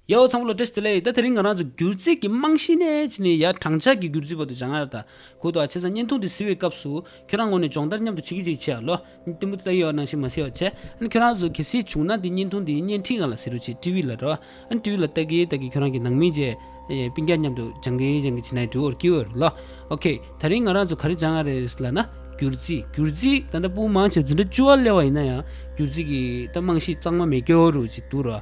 ཡའོ་ཚང་བོ་ལ་ཏྲེས་ཏེ་ལེ་ད་དེ་རིང་ང་རང་ཚོ་སྒྱུར་རྩིས་ཀྱི་རྨང་གཞི་ནས་ཕྱི་ནས་ཡར་དྲང་འཕྱར་གྱིས་སྒྱུར་རྩིས་བར་དུ་བྱང་ཡར་དང་ཁུལ་དུ་ཨ་ཆེ་ས་བརྙན་ཐུང་དེ་བཟི་བའི་སྐབས་སུ་ཁྱོད་རང་ངོ་ནས་སྦྱོང་བརྡར་མཉམ་དུ་བྱེད་ཀྱི་ཅིག་བྱས་ཨ་ལོ། གཏན་པོ་ཏི་ཡོའོ་ནང་བཞིན་མ་བཟི་བར་བྱས། ཨན་ཁྱོད་རང་ཚོ་གལ་སྲིད་བྱུང་ན་དེ་བརྙན་ཐུང་དེའི་བརྙན་འཕྲིན་གང་ལ་བཟི་རུ་ཆེ་ཀྲི་བྷི་ལ་རོ། ཨན་ཀྲི་བྷི་ལ་ཏག་གིས་ཏག་གིས་ཁྱོད་རང་གི་ནང་མི་བཅས་པི་འགྱ་མཉམ་དུ་བྱང་གི་བྱང་གི་བྱེད་ནའི་ཀྲི་བྷི་བོར་ཀི་བྷི་ལོ། ཨོ་ཁེ། ད་རིང་ང་རང་ཚོ་ག་རེ་བྱང་ཨ་རེས་ལ་ན། སྒྱུར་རྩིས་སྒྱུར་རྩིས་ད་ལྟ་པུའུ་མང་ཆེར་འཛིན་གྲྭ་བཅུ་བ་སླེ་བ་ཡིན་ན་ཡང་སྒྱུར་རྩིས་ཀྱི་ད་རྨང་གཞི་གཙང་མ་མེད་ཀྱི་རུ་ཅིག་འདུག་རོ།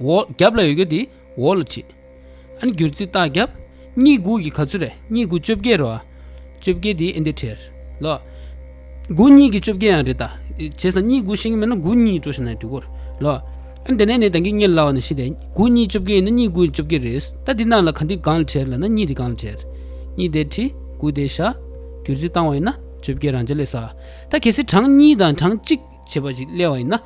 རྒྱབ་ལ་ཡོད་གི་འདི་འོག་ལ་བྲིས། ཨན་གྱུར་ཚིག་རྟགས་རྒྱབ། གཉིས་དགུ་ཡི་ག་ཚོད་རེད་གཉིས་དགུ་བཅོ་བརྒྱད་རེད་བ། བཅོ་བརྒྱད་དེ་ཨན་དེ་བྲེར་ལོ། དགུ་གཉིས་ཀྱི་བཅོ་བརྒྱད་ཡང་རེད་ད། བྱས་ཙང་གཉིས་དགུ་ཤེས་ཀྱི་མེད་ན་དགུ་གཉིས་སྤྲོ་ཤེས་ན་དུས་འགོར་ལོ། ཨན་དེ་ནས་ནས་དང་གིས་རྙེད་སླ་བ་ནི་ཤེས་ཏེ། དགུ་གཉིས་བཅོ་བརྒྱད་ཡིན་ན་གཉིས་དགུ་ཡི་བཅོ་བརྒྱད་རེད། ད་འདི་རྣམས་ལ་གང་འདི་གང་ལ་བྲེར་ལ་ན་གཉིས་འདི་གང་ལ་བྲེར། གཉིས་དེ་བྲིས་དགུ་དེ་བཞག། གྱུར་ཚིག་བཏང་བ་ཡིན་ན་བཅོ་བརྒྱད་རང་ཅག་ལས་ས། ད་གལ་སྲིད་གྲངས་གཉིས་དང་གྲངས་གཅིག་བྱེད་པ་ཞིག་གླེང་བ་ཡིན་ན།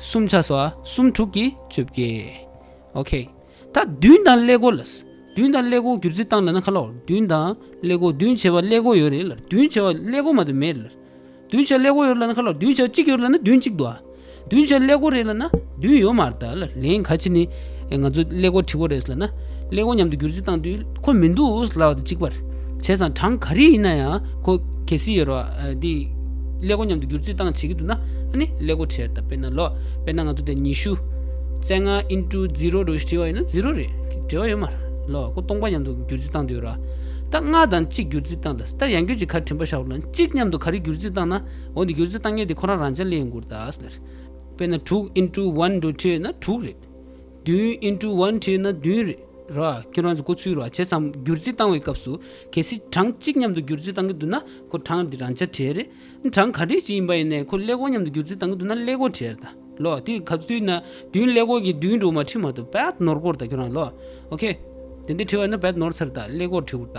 གསུམ་ཆ་སོགས་གསུམ་དྲུག་གིས་བཅོ་བརྒྱད། ཨོ་ཁ་ད་བདུན་དང་ཀླད་ཀོར་ལ། བདུན་དང་ཀླད་ཀོར་གྱུར་ཚུལ་བཏང་ན་ན་ཁ་ལོག་བདུན་དང་ཀླད་ཀོར་བདུན་བྱེ་བ་ཀླད་ཀོར་ཡོད་རེད་ལ་བདུན་བྱེ་བ་ཀླད་ཀོར་མ་དུ་མེད་རེད་ལ། བདུན་བྱེ་བ་ཀླད་ཀོར་ཡོད་རེད་ལ་ན་ཁ་ལོག་བདུན་བྱེ་བ་གཅིག་ཡོད་རེད་ལ་ན་བདུན་གཅིག་འདུག་ཨ། བདུན་བྱེ་བ་ཀླད་ཀོར་རེད་ལ་ན་བདུན་ཡོད་མ་རེད་ད་ལ་ལན་ག་ཅི་ནི། ང་ཚོ་ཀླད་ཀོར་བྲིས་པོ་རེད་ཟེར་ན། ཀླད་ཀོར་མཉམ་དུ་བསྒྱུར་རྩིས་བཏང་དུས་ཁོ་མི་འདུག་ཟེར་ལབ་ཅིག་པར་བྱས་ཙང་གྲངས་ག་རེ་ཡིན་ན་ཡང་ཁོ་གལ་སྲིད་ཡོད་རེད་བ། ཀླད་ཀོར་མཉམ་དུ་བསྒྱུར་རྩིས་བཏང་བྱེད་ཀྱི་འདུག་ན་ཨ་ནི་ཀླད་ཀོར་བྲིས་རེད་དཔེར་ན་ལོ། དཔེར་ན་ང་ཚོ་དེ་ཉི་ཤུ། བཙན་ང into zero རུ་བྲིས་བ་ཡིན་ན zero རེད་འབྲེལ་བ་ཡོད་མ་རེད་ལོ། ཁོ་སྟོང་པ་མཉམ་དུ་བསྒྱུར་རྩིས་བཏང་དུ་ཡོད་རེད་བ། ད་ལྔ་དང་གཅིག་བསྒྱུར་རྩིས་བཏང་ད་ཡང་སྐྱོན་གཅིག་ག་རེ་དྲན་པ་བཞག་རོགས་གནང་གཅིག་མཉམ་དུ་ག་རེ་བསྒྱུར་རྩིས་བཏང་ན་འོ་འདི་བསྒྱུར་རྩིས་བཏང་ངེས་དེ་ཁོ་རང་རང་ཅག་ཀླད་ཡིན་དགོས་རེད་ད་ཟེར། དཔེར་ན་དྲུག into one རུ་བྲིས་ཡོད་ན་དྲུག་རེད། བདུན་ཨིན་ཀྲུའུ་ཝན་བྲིས་ན་བདུན་རེད། ར། ཁྱོད་རང་ཚོ་སྐུ་ཚུལ་ར་བྱེད་ཙམ་བསྒྱུར་རྩིས་བཏང་བའི་སྐབས་སུ། གལ་སྲིད་གྲངས་གཅིག་མཉམ་དུ་བསྒྱུར་རྩིས་བཏང་གི་འདུག་ན་ཁོ་གྲངས་འདི་རང་དཔྱ་ཁྲལ་རེད། གྲངས་ག་འདྲའི་ཞིག་ཡིན་པ་ཡིན་ནའི་ཁོ་ཀླད་ཀོར་མཉམ་དུ་བསྒྱུར་རྩིས་བཏང་གི་འདུག་ན་ཀླད་ཀོར་ཁྲལ་རེད་ད། ལོགས། དེ་ག་དུས་ན་བདུན་ཀླད་ཀོར་གྱི་བདུན་འགྲོ་མ་བྲིས་མ་ཐུབ་བད་ནོར་སྐོར་ད་ཁྱོད་རང་ལོགས། ཨོ་ཁེ། དེ་འདི་བྲིས་བ་ཡིན་ན་བད་ནོར་ཚར་ད་ཀླད་ཀོར་བྲིས་འུར་ད།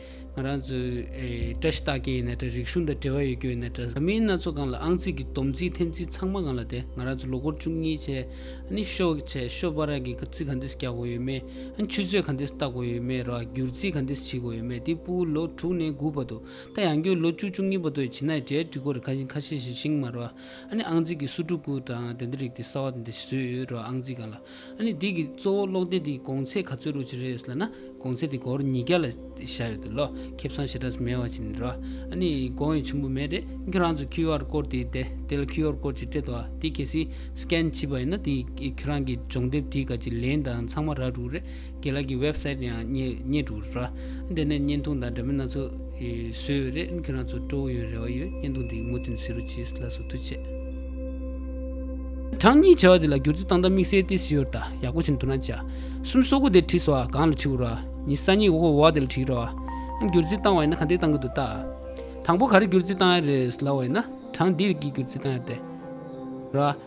ང་རང་ཚོའི་བཀྲ་ཤིས་རྟགས་ཀྱི་ཡིན་ན་བཀྲ་རིག་གཞུང་དང་འབྲེལ་བ་ཡོད་རྒྱུ་ཡིན་ན་བཀྲ། མི་སྣ་ཚོ་གང་ལ་ཨང་རྩིས་ཀྱི་བསྡོམས་རྩིས་འཐེན་རྩིས་ཚང་མ་གང་ལ་དེ་ང་རང་ཚོ་ལོ་འཁོར་བཅུ་གཉིས་ཆེ་ནི་ཤོ་ཆེ་ཤོ་པ་ར་གི་ཁ་རྩིས་ག་འདི་སི་རྒྱག་དགོས་ཡོད་མེད་ཆུ་ཚོད་ག་འདི་སི་བལྟ་དགོས་ཡོད་མེད་ར་བསྒྱུར་རྩིས་ག་འདི་སི་བྱེད་དགོས་ཡོད་མེད་དེ་སྤུ་ལོ་དྲུག་ནས་དགུ་བ་དུ་ད་ཡང་སྐྱོ་ལོ་བཅུ་བཅུ་གཉིས་བ་དུ་བྱེད་ན་གྲའི་སྒྲིག་གོ་ར་ཁ་ཤིང་ཁ་ཤེ་ཤིང་མ་ར་ཨ་ནི་ཨང་རྩིས་ཀྱི་སུ་དྲུག་གུ་དང་དེ་འདི་རིགས་དེ་སྲ་བ་དེ་འདི་སི་བཟོས་ཡོད་ར་ཨང་རྩིས་གང་ལ། ཨ་ནི་འདི་གི་གཙོ་བོ་ཀློག་སྡེ་འདིའི་གོང་ཚད་ག་ཚོད་རུ་ཅི་རེད་ཟེར་ན་གོང་ཚད་དེ་སྒོར་ཉིས་བརྒྱ་ལ་བཞག་ཡོད་དུ་ལོ་ཁེབས་སྲང་ཞེ་དྲགས་སུ་མེད་བ་ཅི་ནི་རོ། ཨ་ནི་དགོངས་ཡོད་ཆེན་པོ་མེད་རེད་ཁྱོད་རང་ཚོ་ཁྱིའུ་ཨར་ཀོར་དེ་དེ་དེ་ལ་ཁྱིའུ་ཨར་ཀོར་ཅིག་སྤྲད་དོ་དེ་གལ་སྲིད Scan བྱིས་པ་ཡིན་ན་དེ་ཁྱོད་རང་གི་སྦྱོང་དེབ་དེའི་ག་ཅིག་ལེན་དང་ཚང་མ་རག་འགྲུག་རེད། དགེ་ལགས་ཀྱི་ཝེབ་སེད་ཡང་རྙེད་འདུག་རེད་བ། འདི་ནས་བརྙན་ཐུང་དང་འདྲ་མིན་སྣ་ཚོགས་བཟོས་ཡོད་རེད་ཁྱོད་རང་ཚོ་སྤྲོ་བོ་ཡོད་རེ་བ་ཡོད་བརྙན་ཐུང་འདི་མུ་ཐུན་ཟེ་རུ་ཇིས་ལ་སོ་ཐུ་ཆེ། གྲངས་གཉིས་བྱ་བ་དེ་ལ་བསྒྱུར་རྩིས་སྟངས་དང་དམིགས་བསལ་ཏེ་སིོར་ད་ཡག་པོ་བྱེད་འདུག་ན་བྱ་གསུམ་སོ་དགུ་དེ་བྲིས་སོ་གང་ལ་བྲིས་འོ་ར་ཉི་ས་གཉིས་འོ་བ་དེ་ལ་བྲིས་རོ་ཨ། བསྒྱུར་རྩིས་བཏང་བ་ཡིན་ན་ག་འདི་བཏང་གི་འདུག་ད། དང་པོ་ག་རེ་བསྒྱུར་རྩིས་བཏང་ཡ་རེད་ལ་བ་ཡིན་ན་གྲངས་འདི་རིགས་ཀྱིས་བསྒྱུར་རྩིས་བཏང་ཡ་དེ་ར།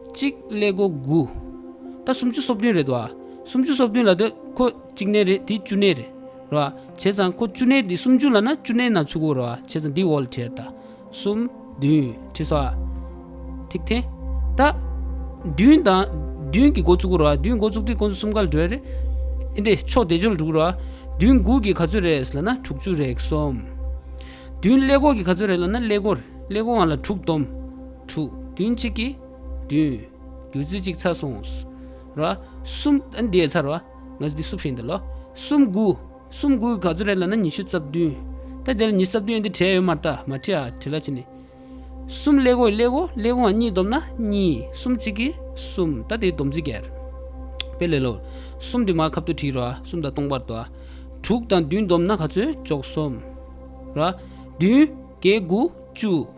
གཅིག་ཀླད་སྒོ་དགུ། ད་སུམ་ཅུ་སོ་བདུན་རེད་དོ། སུམ་ཅུ་སོ་བདུན་ལ་དེ་ཁོ་གཅིག་གནས་རེད་དེ་བཅུ་གནས་རེད། རེད་བ། བྱས་ཙང་ཁོ་བཅུ་གནས་དེ་སུམ་ཅུ་ལ་ན་བཅུ་གནས་ན་ཚུགས་གོ་རེད་བ། བྱས་ཙང་དེའི་འོག་ལ་བྲིས་རེད་ད། སུམ། བདུན། བྲིས་སོ། ཐིག་ཐེ། ད། བདུན་དང། བདུན་གྱི་འགོ་བཙུགས་གོ་རེད་བ། བདུན་འགོ་བཙུགས་དུས་ཁོ་ཚོ་གསུམ་ཀ་ལ་འགྲོ་ཡ་རེད། ཨེ་འདི་ཕྱོགས་དེ་ཅོ་ལ་འགྲོ་གི་རེད་བ། བདུན་དགུ་གི་ག་ཚོད་རེད་ཟེར་ལ་ན་དྲུག་ཅུ་རེད་གསུམ། བདུན་ཀླད་སྒོ་གི་ག་ཚོད་རེད་ལ་ན་ཀླད་སྒོ། ཀླད་སྒོ་བ་ལ་དྲུག་སྟོང། དྲུག། བདུན་གཅིག་གིས་བདུན། བདུད་རྩི་གཅིག་ཚར་སོང། ར། གསུམ། འདིའི་ཚར་བ། ང་ཚོ་འདི་བསུབ་བཞིན་འདི་ལོ། གསུམ་དགུ། གསུམ་དགུ་ག་ཚོད་རེད་ལ་ན་ཉི་ཤུ་རྩ་བདུན། ད་དེར་ཉི་རྩ་བདུན་འདི་བྲིས་ཡོད་མ་རྟ་མ་བྲིས་ཨ་བྲིས་ལ་ཕྱི་ནས། གསུམ་ཀླད་གོ་ཡི་ཀླད་གོ་ཀླད་གོ་འང་གཉིས་བསྡོམས་ན་གཉིས། གསུམ་གཅིག་གིས་གསུམ་ད་དེའི་བསྡོམས་རྩིས་བརྒྱད། དཔེ་ལས་ལོར། གསུམ་འདི་མ་ཁབ་ཏུ་བྲིས་རོ་ཨ་གསུམ་དང་སྟོང་པར་དོ་ཨ། དྲུག་དང་བདུན་བསྡོམས་ན་ག་ཚོད་ཅོག་གསུམ། ར། བདུན། བརྒྱད་དགུ། བཅུ།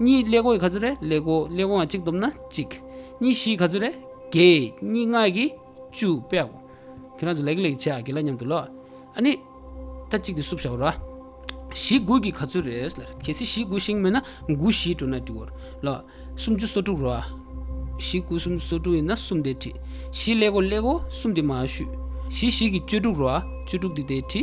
གཉིས་ཀླད་ཀོ་ཡི་ག་ཚོད་རེད་ཀླད་ཀོ་ཀླད་ཀོའང་གཅིག་བསྡོམས་ན་གཅིག། གཉིས་བཞི་ཡི་ག་ཚོད་རེད་བརྒྱད། གཉིས་ལྔ་ཡི་གི་བཅུ་པའོ། ཁྱེད་རང་ཚོ་ལེགས་ལེགས་བྱས་ཨ་དགེ་ལ་མཉམ་དུ་ལོ། ཨ་ནི། ད་གཅིག་དེ་བསུབ་བྱའོ་ར། བཞི་དགུ་ཡི་གི་ག་ཚོད་རེད་ལ། གལ་སྲིད་བཞི་དགུ་ཤིང་མེད་ན་དགུ་བཞི་དྲུག་ན་བསྒྲིག་འོ། ལ། སུམ་ཅུ་སོ་དྲུག་རོ། བཞི་དགུ་གསུམ་སོ་དྲུག་ཡིན་ན་གསུམ་དེ་ཁྲི། བཞི་ཀླད་ཀོ་ཀླད་ཀོ་གསུམ་དེ་མ་ཤུས། བཞི་བཞི་གི་བཅུ་དྲུག་རོ། བཅུ་དྲུག་དེ་དེ་ཁྲི།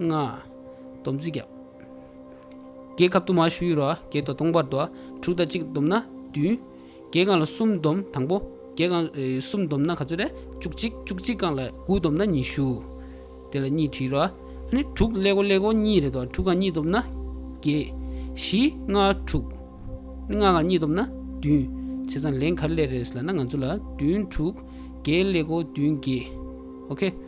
ལྔ། སྡོམ་བརྩི་བརྒྱ། བརྒྱད་གབ་ཏུ་མ་ཞུ་ཡུལ་རོ། བརྒྱད་དོ་སྟོང་པར་དོ། དྲུག་དང་གཅིག་བསྡོམས་ན་བདུན། བརྒྱད་གང་ལ་གསུམ་བསྡོམས་དང་པོ། བརྒྱད་གང་གསུམ་བསྡོམས་ན་ག་ཚོད་རེད། བཅུ་གཅིག་བཅུ་གཅིག་གང་ལ་དགུ་བསྡོམས་ན་ཉི་ཤུ། དེ་ལ་གཉིས་བྲིས་རོ། དྲུག་ཀླད་གོ་ཀླད་གོ་གཉིས་རེད་དོ། དྲུག་གང་གཉིས་བསྡོམས་ན་བརྒྱད། བཞི་ལྔ་དྲུག། ལྔ་གང་གཉིས་བསྡོམས་ན་བདུན། བྱས་ཙང་ལན་ག་ལས་རེད་ཟེར་ན་ང་ཚོ་ལ་བདུན་དྲུག་བརྒྱད་ཀླད་གོ་བདུན་བརྒྱད། ཨོ་ཁེ།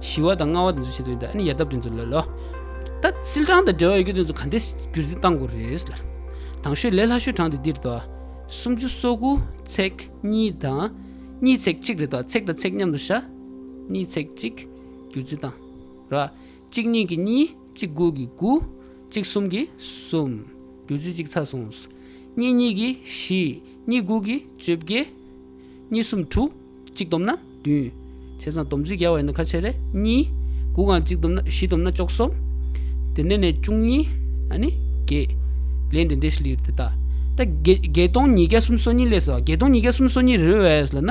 ཞི་བ་དང་སྔ་བ་དེ་ཚོ་བྱེད་དགོས་ཡིན་ད་ཡ་ཡལ་སྟབས་དེ་ཚོ་ལོས་ལོ། ད་སིལ་གྲངས་དང་འབྲེལ་བ་ཡོད་རྒྱུ་དེ་ཚོ་ག་འདི་རྒྱུ་རྫི་གཏང་དགོས་རེད། དང་ཤོས་ལས་ལྷ་ཤོས་གྲངས་དེ་འདིར་དོ། སུམ་ཅུ་སོ་དགུ་ཚེག་གཉིས་དང། གཉིས་ཚེག་གཅིག་རེད་དོ་ཚེག་དང་ཚེག་མཉམ་དུ་བཞག། གཉིས་ཚེག་གཅིག་རྒྱུ་རྫི་གཏང། ར། གཅིག་གཉིས་ཀྱི་གཉིས་གཅིག་དགུ་ཀྱི་དགུ། གཅིག་གསུམ་གྱི་གསུམ། རྒྱུ་རྫི་གཅིག་ཚར་སོང། གཉིས་གཉིས་ཀྱི་བཞི། གཉིས་དགུ་ཀྱི་བཅོ་བརྒྱད། གཉིས་གསུམ་དྲུག། གཅིག་བསྡོམས་ན་བདུན། བྱས་ཙང་བསྡོམས་ཚུལ་རྒྱལ་བ་ཡིན་ན་ཁ་ཕྱེ་རེ་གཉིས། དགུ་གང་གཅིག་བསྡོམས་ན་བཞི་བསྡོམས་ན་ཅོག་གསུམ། དེ་ནས་ནས་བཅུ་གཉིས། ཨ་ནི། བརྒྱད། ལན་འདི་འདི་ཞེས་ལིར་དེ་ལྟ། ད་གེ་བརྒྱད་སྟོང་ཉིས་བརྒྱ་གསུམ་སོ་གཉིས་ལས་ཟེར་བ་བརྒྱད་སྟོང་ཉིས་བརྒྱ་གསུམ་སོ་གཉིས་རེད་བས་ལ་ན།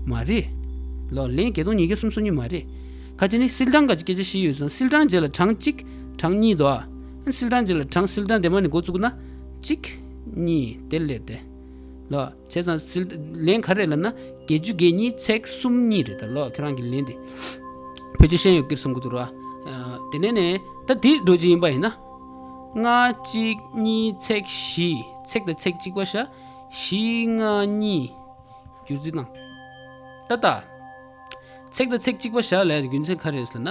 མ་རེད། ལོག་ལན་བརྒྱད་སྟོང་ཉིས་བརྒྱ་གསུམ་སོ་གཉིས་མ་རེད། ཁ་ཅེ་ནི་སིལ་གྲངས་འགའ་ཅི་སྐད་ཆ་བཞི་ཡོད་ཙང་སིལ་གྲངས་བརྒྱད་ལ་གྲངས་གཅིག། གྲངས་གཉིས་དོ། ཨན་སིལ་གྲངས་བརྒྱད་ལ་གྲངས་སིལ་གྲངས་དེ་མ་ནི་འགོ་བཙུགས་ན། གཅིག། གཉིས། དེ་ལིར་དེ། ལོག། བྱས་ཙང་སིལ། ལན་ག་རེ་ལབ་ན་བརྒྱད་ཅུ་བརྒྱད་གཉིས་ཚེག་གསུམ་གཉིས་རེད་ད་ལོག་ཁྱོད་རང་གི་ལན་དེ། ཕལ་ཆེར་ཤེས་ཡོད་ཀིར་བསམ་གི་འདུག་རོགས། དེ་ནས་ནས་ད་དེ་འགྲོ་རྒྱུ་ཡིན་པ་ཡིན་ན། ལྔ་གཅིག་གཉིས་ཚེག་བཞི་ཚེག་དང་ཚེག་གཅིག་པ་ཤ་བཞི་ལྔ་གཉིས། བསྒྱུར་རྩིས་དང། ཏ་ཏ། ཚེག་དང་ཚེག་གཅིག་པ་ཤ་ལས་རྒྱུ་མཚན་ག་རེ་ཟེར་ན།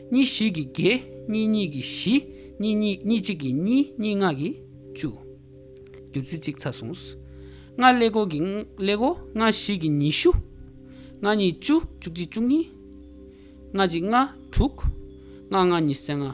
གཉིས་བཞི་གིས་བརྒྱད། གཉིས་གཉིས་ཀྱིས་བཞི། གཉིས་གཉིས་གཉིས་གཅིག་གིས་གཉིས། གཉིས་ལྔ་གིས་བཅུ། བདུད་རྩི་གཅིག་ཚར་སོང། ལྔ་ཀླད་ཀོར་གྱི་ཀླད་ཀོར། ལྔ་བཞི་གྱིས་ཉི་ཤུ། ལྔ་གཉིས་བཅུ། བཅུ་གཅིག་བཅུ་གཉིས། ལྔ་གཅིག་ལྔ་དྲུག། ལྔ་ལྔ་ཉི་ཚེ་ལྔ།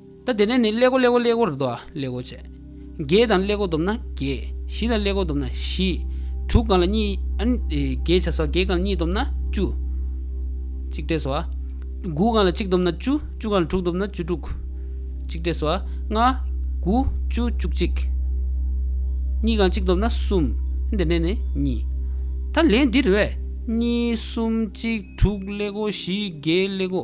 ད་དེ་ནས་ནི་ཀླད་ཀོ་ཀླད་ཀོ་ཀླད་ཀོ་རུ་དོ། ཀླད་ཀོ་བཅས། བརྒྱད་དང་ཀླད་ཀོ་བསྡོམས་ན་བརྒྱད། བཞི་དང་ཀླད་ཀོ་བསྡོམས་ན་བཞི། དྲུག་གང་ལ་གཉིས། བརྒྱད་བྱ་སོ། བརྒྱད་གང་ལ་གཉིས་བསྡོམས་ན་བཅུ། གཅིག་བྲེ་སོ། དགུ་གང་ལ་གཅིག་བསྡོམས་ན་བཅུ། བཅུ་གང་ལ་དྲུག་བསྡོམས་ན་བཅུ་དྲུག། གཅིག་བྲེ་སོ། ལྔ། དགུ། བཅུ། བཅུ་གཅིག། གཉིས་གང་གཅིག་བསྡོམས་ན་གསུམ། དེ་ནས་ནི་གཉིས། ད་ལན་འདིར་བས། གཉིས། གསུམ། གཅིག། དྲུག། ཀླད་ཀོ། བཞི། བརྒྱད། ཀླད་ཀོ།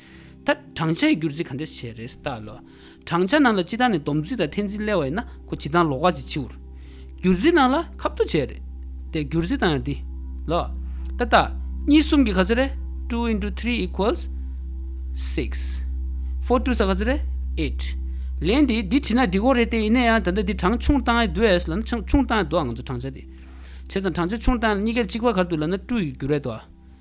ད་བགྲང་བྱ་ཡི་སྒྱུར་རྩིས་ག་འདྲས་བྱས་རེད་བལྟ་ལོ། བགྲང་བྱ་ནང་ལ་སྤྱི་བཏང་ནས་སྡོམ་རྩིས་དང་འཐེན་རྩིས་སླེལ་བ་ཡིན་ན་ཁོ་སྤྱི་བཏང་ལོག་ཁ་ཅིག་འཆི་འོར། སྒྱུར་རྩིས་ནང་ལ་ཁ་བསྡུ་བྱས་རེད་བལྟས་སྒྱུར་རྩིས་བཏང་ཡ་འདི། ལོ། ད་བལྟ། གཉིས་གསུམ་གྱི་ག་ཚོད་རེད two into three equals six four two ས་ག་ཚོད་རེད eight ལན་འདི་འདི་བྲིས་ན་འགྲིག་གོ་རེད་བལྟས་ཡིན་ན་ཡང་ད་ལྟ་འདི་བགྲང་ཆུང་བཏང་ཡ་འདུག་ལ་ན་ཆུང་བཏང་ཡ་འདུག་ང་ཚོ་བགྲང་བྱ་འདི་བྱས་ཙང་བགྲང་བྱ་ཆུང་བཏང་ཡ་གཉིས་ཀའི་གཅིག་པ་གར་འདུག་ལ་ན་སྤྲུ་ཡི་སྒྱུར་རེད་དོ།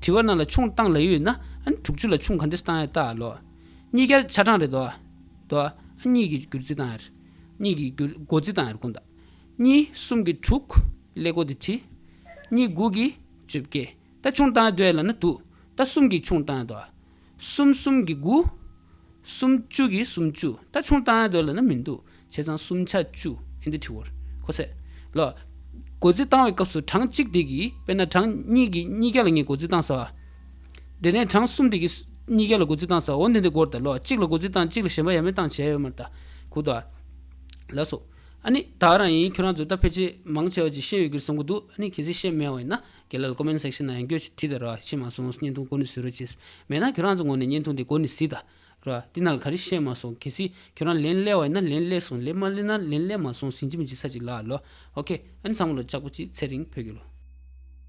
དྲི་བ་རྣམས་ལ་ཆུང་བཏང་ལ་ཡོད་ན། དྲུག་ཅུ་ལ་ཆུང་ག་འདིར་བཏང་ཡོད་ལྟ་ལོ། གཉིས་བརྒྱར་ཆ་གྲངས་རེ་དོ། གཉིས་ཀྱི་བསྒྱུར་རྩིས་བཏང་ཡོད། གཉིས་ཀྱི་སྒོ་རྩིས་བཏང་ཡོད་ཀུན་བཏགས། གཉིས་གསུམ་གྱི་དྲུག། ཀླད་ཀོར་དེ་ཁྲི། གཉིས་དགུ་གི་བཅོ་བརྒྱད། ད་ཆུང་བཏང་ཡོད་ལྟ་ལ་ན་དུ། ད་གསུམ་གྱི་ཆུང་བཏང་ཡོད་དོ། གསུམ་གསུམ་གྱི་དགུ། སུམ་བཅུ་གྱི་སུམ་བཅུ། ད་ཆུང་བཏང་ཡ་འདོད་ལ་ན་མི་འདུག་བྱས་ཙང་སུམ་ཆ་བཅུ་ཨིན་འདི་ཁྲི་བོར་ཁོ་ཚད། ལ། སྒོ་རྩིས་བཏང་བའི་སྐབས་སུ་གྲངས་གཅིག་དེ་གིས་དཔེར་ན་གྲངས་གཉིས་ཀྱིས་གཉིས་བརྒྱ་ལ་ངས་སྒོ་རྩིས་བཏང་ཟ་བ། དེ་ནས་གྲངས་གསུམ་དེ་གིས་གཉིས་བརྒྱ་ལ་སྒོ་རྩིས་བཏང་ཟ་བ་འོ་འདི་འདི་སྒོར་ད་ལོ་གཅིག་ལ་སྒོ་རྩིས་བཏང་གཅིག་ལ་ཞེན་པ་ཡ་མེད་བཏང་བྱས་ཡོད་མ་ད་གུག་ད། ལ་སོགས། ཨ་ནི་ད་རང་ཡིན་ཁྱོད་རང་ཚོས་ད་ཕལ་ཆེར་མང་ཆེ་བ་ཅིག་ཤེས་ཡོད་གིར་བསམ་གི་འདུག་ཨ་ནི་གལ་སྲིད་ཤེས་དམན་བ་ཡིན་ན། རྒྱལ་ལོར Comment Section ནང་ཡང་སྐྱོ་ཆེ་བྲིས་ད་ར་ཤེས་མ་སོང་བརྙན་ཐུང་གོ་ནི་ཟོས་རོ་ཅེས། མེད་ན་ཁྱོད་རང་ཚོ་ངོ་ནས་བརྙན་ཐུང་དེ་གོ་ནི་སྲིད་ད་ར། འདི་ནང་ལ་ག་རེ་བཤད་མ་སོང་གལ་སྲིད་ཁྱོད་རང་ལན་སླེ་བ་ཡིན་ན་ལན་སླེ་སོང་ལན་མ་སླེ་ན་ལན་སླེ་མ་སོང་ཟིན་གྱི་མི་འཇིག་ས་ཅིག་ལ་ལོ། ཨོ་ཁེ། ཨ་ནི་ཚང་མ་ལོ་ལྕགས་པོ་གཅིག་ཚེ་རིང་བོད་ཀྱི་ལོ།